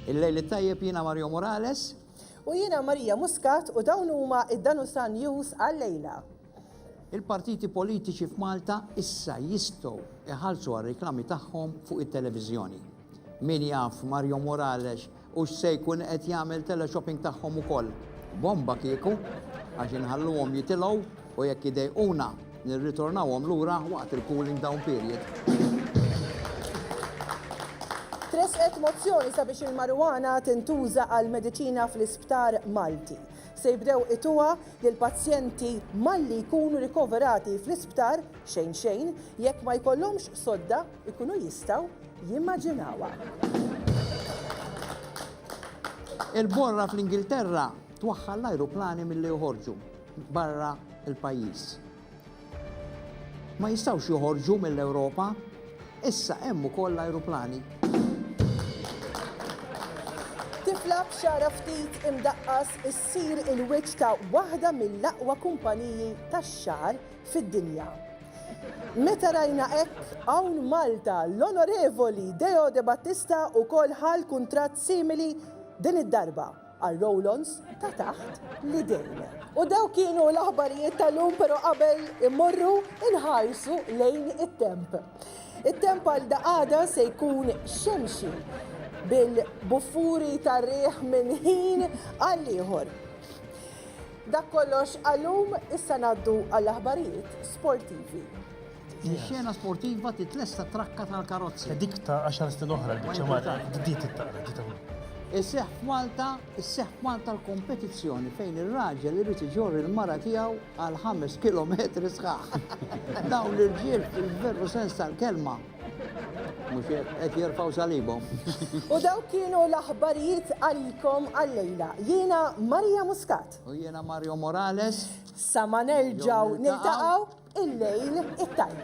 Il-lejl it-tajjeb jiena Mario Morales. U jiena Marija Muscat u dawn huma id-Danusa News għal-lejla. Il-partiti politiċi f'Malta issa jistgħu iħallsu għar-reklami tagħhom fuq it-televiżjoni. Min jaf Mario Morales Hux se jkun qed jagħmel teleshopping tagħhom ukoll. Bomba kieku, għax inħalluhom jitilgħu u jekk idejquna nirriturnawhom lura waqt il-cooling down period. Tressqet mozzjoni sabiex il-marijuana tintuża għal mediċina fl-isptar Malti. Se jibdew ituha lil pazjenti malli jkunu rikoverati fl-isptar xejn xejn jekk ma jkollhomx sodda ikunu jistgħu jimmaġinawha. Il-borra fl-Ingilterra twaħħal l-ajruplani milli joħorġu barra l-pajjiż. Ma jistgħux joħorġu mill-Ewropa, issa hemm ukoll l-ajruplani. Tifla b'xara ftit imdaqqas issir il-wiċċ ta' waħda mill-aqwa kumpaniji tax-xagħar fid-dinja. Meta rajna hekk hawn Malta, l-Onorevoli Deo Debattista wkoll ħa l-kuntratt simili din id-darba għal roll-ons ta' taħt l-idejn. U dawk kienu l-aħbarijiet tal-lum pero qabel immorru inħarsu lejn it-temp. It-temp għal daqada se jkun xemxi bil-buffuri tar-riħ minn ħin għall-ieħor. Dak kollox għallum, issa ngħaddu għall-aħbarijiet sportivi. Ix-xena sportiva titlesta trakka tal-karozzi. Dik ta' 10 snin oħra l-biċċa mara ġdid it-taqra ġita Isseħ f'Malta, isseħ f'Malta l-kompetizzjoni fejn ir-raġel irid iġorri l-mara tiegħu għal 5 kilometri sħaħ. Dawn l-irġiel fil-veru sens tal-kelma Mux qed jirfaw salibom. U daw kienu l-aħbarijiet għalikom għallejla. Jiena Maria Muscat. U jiena Mario Morales. Sama nerġaw niltaqaw il-lejl it-tajb.